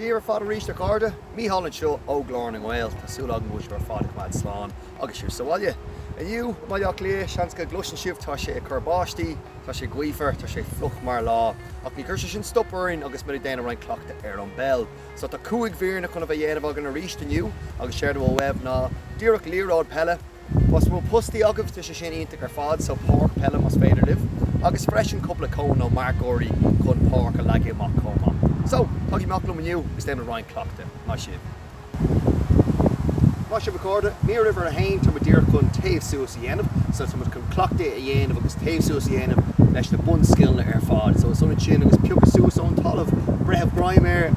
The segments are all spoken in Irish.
Dia daoibh ar fad arís a chairde, Mícheál anseo ó Ghlór na nGael. Tá súil agam go bhfuil sibh ar fad ag coimeád slán agus sibh sa bhaile. Inniu i mBaile Átha Cliath, seans go gcloiseann sibh, tá sé ag cur báistí, tá sé gaofar, tá sé fliuch mar lá, ach ní chuirfidh sé sin stop orainn agus muid ag déanamh roinnt cleachtadh ar an bpeil. So tá cúig mhíreanna chun a bheith le déanamh againn arís inniu agus séard a bhfuil uaibh ná díreach liathróid peile, Más maith postaí agaibh, tá sé sin iontach ar fad, so páirc peile más féidir libh agus freisin cúpla cón nó marcóirí chun páirc a leagadh amach chomh maith. So, tagaigí amach liom inniu agus déanfaimid roinnt cleachtadh. Maith sibh. Maith sibh a chairde. Mír uimhir a haon, táimid díreach chun téamh suas a dhéanamh. So táimid chun cleachtadh a dhéanamh agus téamh suas a dhéanamh leis na bunscileanna ar fad. So is ionann sin agus piocadh suas ón talamh, breith greim air,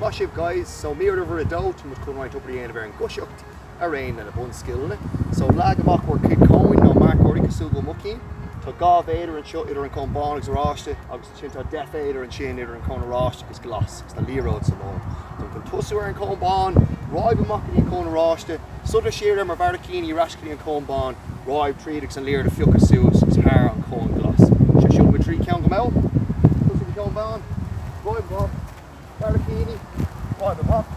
Maith sibh guys. So mír uimhir a dó, tá muid chun roinnt obair a dhéanamh ar an gcoisíocht araon leis na bunscileanna. So leag amach bhur cuid cóin nó marcóirí cosúil le mo cheann. Tá dhá mhéadar anseo idir an cón bán agus oráiste agus. Ansin tá deich mhéadar ansin idir an cón oráiste agus glas agus tá liathróid sa lár. Táim chun tosú ar an cón bán, ráib amach go dtí an cón oráiste, sodar siar ar mo bharraicíní ar ais go dtí an cón bán, ráib tríd agus an liathróid a phiocadh suas agus thar an cón glas. So rachaimid tríd ceann go mall. Tosú ag an cón bán, ráib amach, barraicíní, ráib amach.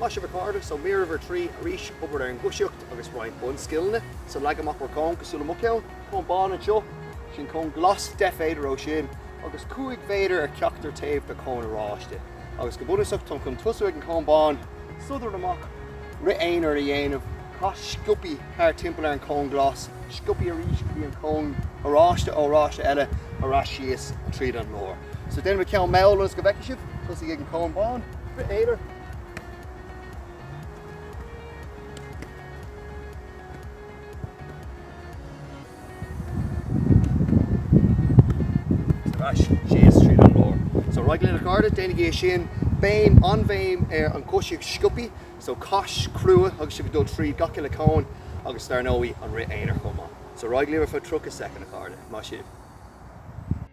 Maith sibh a chairde. So mír uimhir a trí arís, obair ar an gcoisíocht agus roinnt bunscileanna. So leag amach bhur cón cosúil le mo cheann. Cón bán anseo, ansin cón glas, 10 mhéadar ó sin agus 5 mhéadar ar cheachtar taobh de cón oráiste. Agus go bunúsach táim chun tosú ag an cón bán, sodar amach, rith aonair a dhéanamh, cas sciopaí thart timpeall ar an cón glas, sciopaí arís go dtí an cón oráiste, cón oráiste eile ar ais síos tríd an lár. So déanfaidh mé ceann mall ionas go bhfeicfidh sibh. Tosaigh ag an Cón Bán. B'fhéidir. Ar ais síos tríd an lár. So ar aghaidh linn a chairde, déanaigí é sin. Béim, an-bhéim ar an gcoisíocht sciopaí. So cas crua agus sibh ag dul tríd gach uile cóin agus dar ndóigh an rith aonair chomh maith. So ar aghaidh libh ar feadh 30 soicind a chairde. Maith sibh.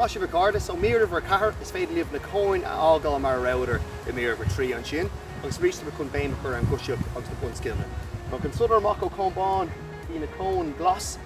Maith sibh a chairde. So mír uimhir a ceathair, is féidir libh na cóin a fhágáil mar a rabhadar i mír uimhir trí ansin agus arís táim chun béim a chur ar an gcoisíocht agus na bunscileanna. So ag sodar amach ó cón bán go dtí an cón glas.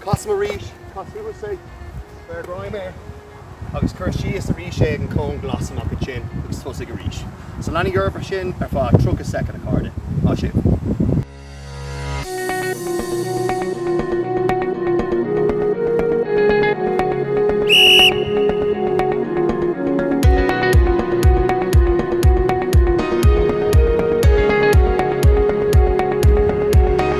Casaim arís, caith suas é, beir greim air agus cuir síos arís é ag an cón glas amach ansin agus tosaigh arís. So leanaigí oraibh mar sin ar feadh 30 soicind, a chairde. Maith sibh.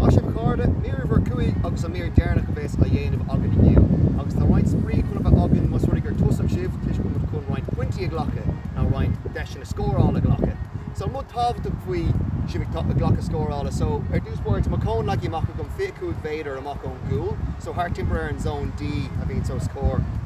Maith sibh a chairde, mír uimhir a cúig agus an mír deireanach a bhéas á dhéanamh againn inniu agus tá roinnt spraoi chun a bheith againn más rud é gur tosaí sibh toisc go bhfuil muid chun roinnt pointí a ghlacadh nó roinnt deiseanna scórála a ghlacadh so an rud tábhachtach faoi sibh ag cleachtadh scórála so ar dtús báire tá mo chón leagtha amach agam 25 méadar amach ón gcúl so thart timpeall ar an zone D a bhíonn so is cóir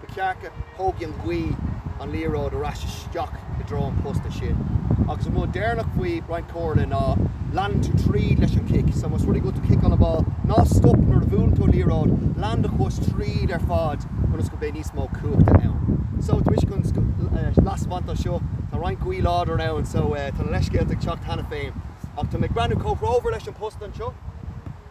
Ba cheart go thógfaidh an ghaoth an liathróid ar ais isteach i dtreo an posta sin. Agus an rud deireanach faoi roinnt comhairle ná leanúint tríd leis an chic. So más rud é go bhfuil tú ag ciceáil an ball, ná stop nuair a bhuaileann tú an liathróid, lean do chois tríd ar fad ionas go mbeidh níos mó cumhachta ann. So taispeántas anois anseo, tá roinnt gaoth láidir ann so tá na leithscéalta ag teacht cheana féin. Ach tá mé ag breathnú comhthreomhar leis an posta anseo.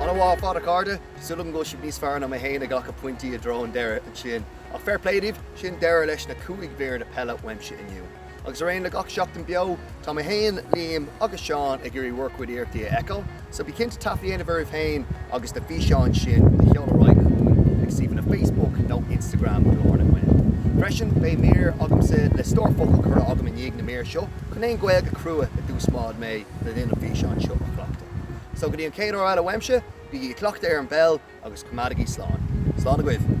An-mhaith ar fad, a chairde. Súil agam go bhfuil sibh níos fearr ná mé fhéin ag glacadh pointí i dtreo an deireadh ansin. Ach fair play daoibh, sin deireadh leis na cúig míreanna peile uaimse inniu. Agus araon le gach Seachtain Beo, tá mé fhéin, Liam agus Seán ag iarraidh bhur gcuid iarrachtaí a fheiceáil. So bí cinnte taifead a dhéanamh oraibh fhéin agus na físeáin sin a sheoladh ar aghaidh chugainn ag suíomhanna Facebook nó Instagram Glór na nGael. Freisin, beidh mír agamsa le stór focal crua agam i ndiaidh na míre seo chun aon Ghaeilge crua a d'úsáid mé. le linn an físeáin seo a chleachtadh. So go dtí an chéad uair eile uaimse, bígí ag cleachtadh ar an bpeil agus coimeádaigí slán. Slán agaibh.